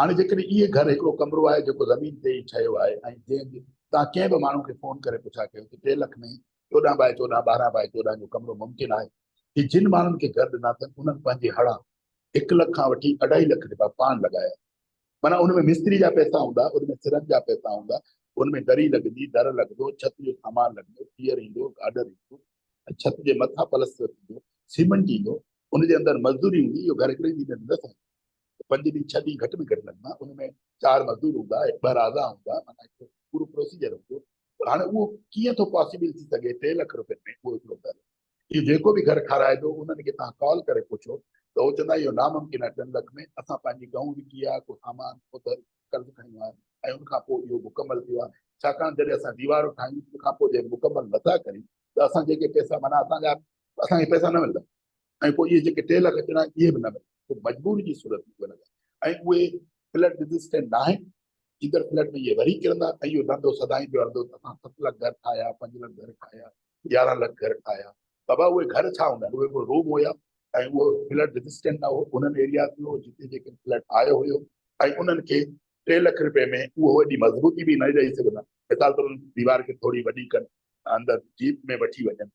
هاڻي جيڪڏهن اهي گهر هڪڙو ڪمرو آهي جيڪو زمين تي ئي ٺهيو آهي ۽ جنهن جي تان ڪنهن به ماڻهو کي فون ڪري پڇا ڪيو ته ٽي لک ۾ چوڏهن بائي چوڏهن، ٻارهن بائي چوڏهن جو ڪمرو ممڪن آهي؟ هي جن ماڻهن کي گهر ڏنا اٿن انهن پنهنجي هڙان هڪ لک کان وٺي اڍائي لک رپيا پاڻ لڳايا معنيٰ ان ۾ مستري جا پئسا هوندا، ان ۾ سرن جا پئسا هوندا، ان ۾ دري لڳندي، در لڳندو، ڇت جو سامان لڳندو، پيئر ايندو، گاڊر ايندو، ڇت جي مٿان پلستر ٿيندو، سيمنٽ ايندو، ان جي اندر مزدوري هوندي اهو گهر هڪڙي ڏينهن ۾ نه ٺهندو. پنج ڏينهن ڇهه ڏينهن گهٽ ۾ گهٽ لڳندا ان ۾ چار مزدور هوندا ٻه رازا هوندا معنيٰ هڪ پورو پروسيجر هوندو پر هاڻي اهو ڪيئن ٿو پاسيبل ٿي سگهي ٽي لک روپين ۾ اهو هڪڙو گهر اهو جيڪو به گهر کارائبو انهن کي توهان ڪال ڪري پڇو ته هو چوندا اهو ناممڪن آهي ٽن لک ۾ اسان پنهنجي گئون وڪي آهي ڪو سامان اوڌر قرض کڻيو آهي ۽ ان کان پوء اهو مڪمل ٿيو آهي ڇاڪاڻ جڏهن اسان ديوارون ٺاهيون ان کان پوء جڏهن مڪمل نٿا ڪريون ته اسان جيڪي پئسا معنيٰ اسان جا اسان کي پئسا نه ملندا ۽ پوء اهي جيڪي ٽي لک ڏنا اهي به نه ملن ڪو مجبوري جي صورت ۾ ڳولهيا ۽ اهي فلڊ ريزسٽنٽ ناهن ايندڙ فلڊ ۾ اهي وري ڪرندا ۽ اهو ڌنڌو سدائين پيو هلندو ته اسان ست لک گهر ٺاهيا پنج لک گهر ٺاهيا يارهن لک گهر ٺاهيا بابا اهي گهر ڇا هوندا اهي ڪو روم هيا ۽ اهو فلڊ ريزسٽنٽ نه هو انهن ايرياز ۾ هو جتي جيڪي فلڊ آيو هيو ۽ انهن کي ٽي لک رپئي ۾ اهو ايڏي مضبوطي به نه ڏئي سگهندا مثال طور انهن ديوار کي ٿوري وڏي ڪن اندر جيپ ۾ وٺي وڃن